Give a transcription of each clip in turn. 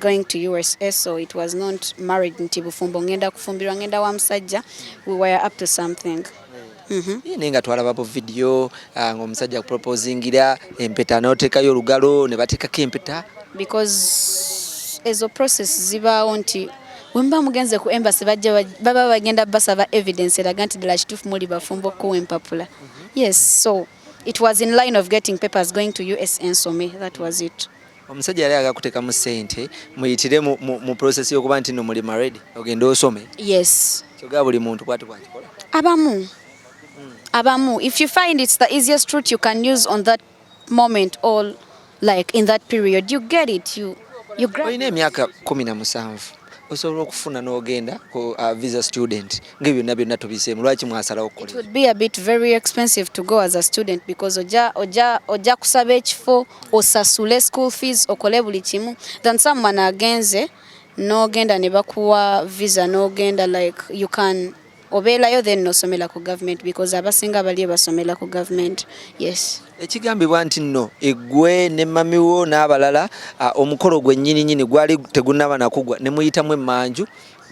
going to USA so it was not married nti bufumbo ngenda kufumbirwa ngenda wa musajja we were up to something Mm-hmm. Eh, naye nga twalaba bu vidiyo ah, ngaomusajja kuproposingira empeta notekayo olugalo ne batekako empeta because ezo process zibaawo nti wemba mugenze ku embassy bajja baba bagenda basaba evidence eraga nti ddala kituufu muli bafumbo okukuwa empapula mm-hmm. yes so it was in line of getting papers going to us ensome that was it omusajja yali aga kutekamu sente muyitire mu, mu, mu process yokuba nti no muli married ogende osome yes kyoga buli muntu kwati kwakikola abamu mm. abamu if you find it's the easiest route you can use on that moment or like in that period you get it you you grab olina emyaka kumi na musanvu osobola okufuna n'ogenda ku uh, visa student ng'ebyo byonna byonna tubiseemu lwaki mwasalawo ojja kusaba ekifo osasule school fees okole buli kimu than someone agenze n'ogenda ne bakuwa visa n'ogenda like you can obeerayo then nosomera ku government because abasinga baliyo basomera ku government yes ekigambibwa nti nno eggwe ne mamiwo n'abalala omukolo gwe nyini nyini gwali tegunaba nakugwa ne muyitamu emmanju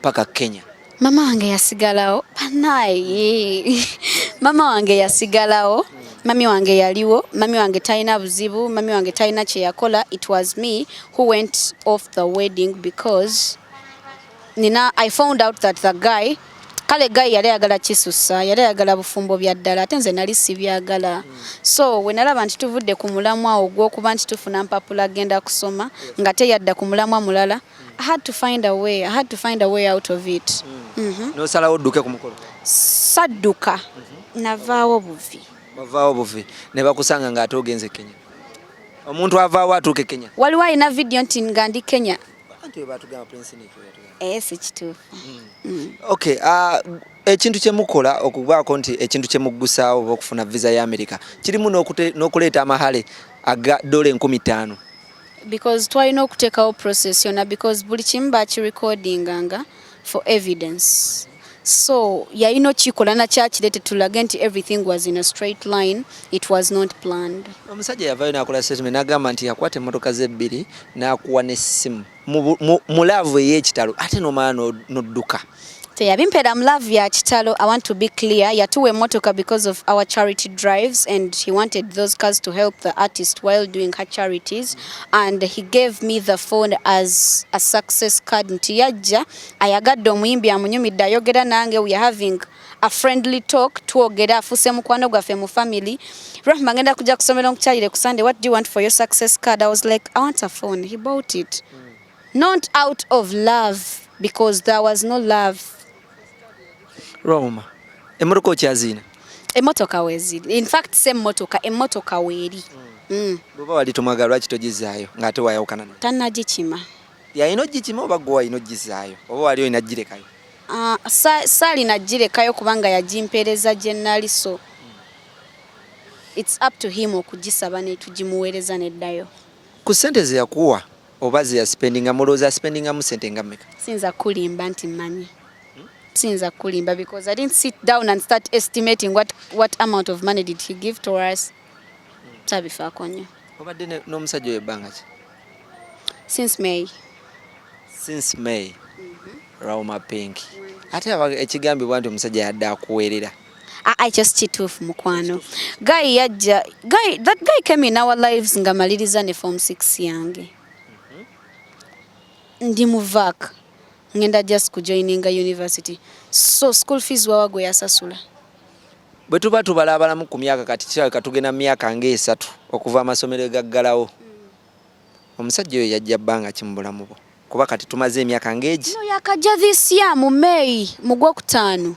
paka kenya mama wange yasigalawo banaye mama wange yasigalawo mami wange yaliwo mami wange talina buzibu mami wange talina kyeyakola it was me who went off the wedding because Nina I found out that the guy kale guy yali ayagala kisusa yali ayagala bufumbo bya ddala ate nze nali sibyagala so we nalaba nti tuvudde ku mulamwa ogw'okuba nti tufuna mpapula agenda kusoma nga teyadda ku mulamwa mulala I had to find a way. I had to find a way out of it. Mm. Mm -hmm. No sala oduke kumukolo. Saduka. Mm -hmm. Navawo buvi. Navawo buvi. Ne bakusanga nga atogenze Kenya. Omuntu avawo atuke Kenya. Waliwa ina video nti ngandi Kenya. Eh, si kituufu mm. Mm. okay uh, ekintu kyemukola okubaako nti ekintu kyemuggusaawo oba okufuna visa ya america kirimu n'okuleeta amahale aga dola enkumi ttaano because twalina okuteekawo process yona because buli kimu bakirecordinganga for evidence so yalina okikola nakyakirete tulage nti everything was in a straight line it was not planned omusajja yavayo nakola statement nagamba nti yakwata emotoka ze ebbiri nakuwa nesimu mu laavu eyekitalo ate nomala nodduka teyabimpera mu laavu ya kitalo i want to be clear yatuwa emotoka because of our charity drives and he wanted those cars to help the artist while doing her charities and he gave me the phone as a success card nti yajja ayagadde omuyimbi amunyumidde ayogera nange we are having a friendly talk twogera afuse mukwano gwaffe mu family rahma ngenda kujja kusomera nkukyalire ku sunday what do you want for your success card i was like i want a phone he bought it mm. not out of love because there was no love Roma, emotoka okyazina? Emotoka weziri. In fact, se motoka, emotoka weri. Mm. mm. Bweba wali tomwagala lwaki togizaayo ng'ate wayawukana naye? Tannagikima. Yalina ogikima oba gwe walina ogizaayo oba wali olina girekayo? Uh, ah, saalina girekayo kubanga yagimpeereza gye nnali so mm. it's up to him okugisaba netugimuweereza neddayo. Ku ssente ze yakuwa oba ze yasipendinga mulowooza asipendingamu sente nga mmeka siyinza kukulimba nti mmanyi siyinza kukulimba because i didn't sit down and start estimating what, what amount of money did he give to us tabifaako nnyo obadde n'omusajja oyo ebbanga ki since may since may mm -hmm. rauma pink ate ekigambibwa nti omusajja yadde akuweerera Ah, ah, ekyo sikituufu mukwano guy yajja guy that guy came in our lives nga maliriza ne form 6 yange mm-hmm. ndi muvak ngenda just kujoininga university so school fees wawa gwe yasasula bwe tuba tubalabalamu ku myaka kati kirabika tugenda mu myaka ngaesatu okuva amasomero egaggalawo mm. omusajja oyo yajja bbanga ki mu bulamu bwo kuba kati tumaze emyaka ngaegi no, yakajja this year mu may mu gwokutaano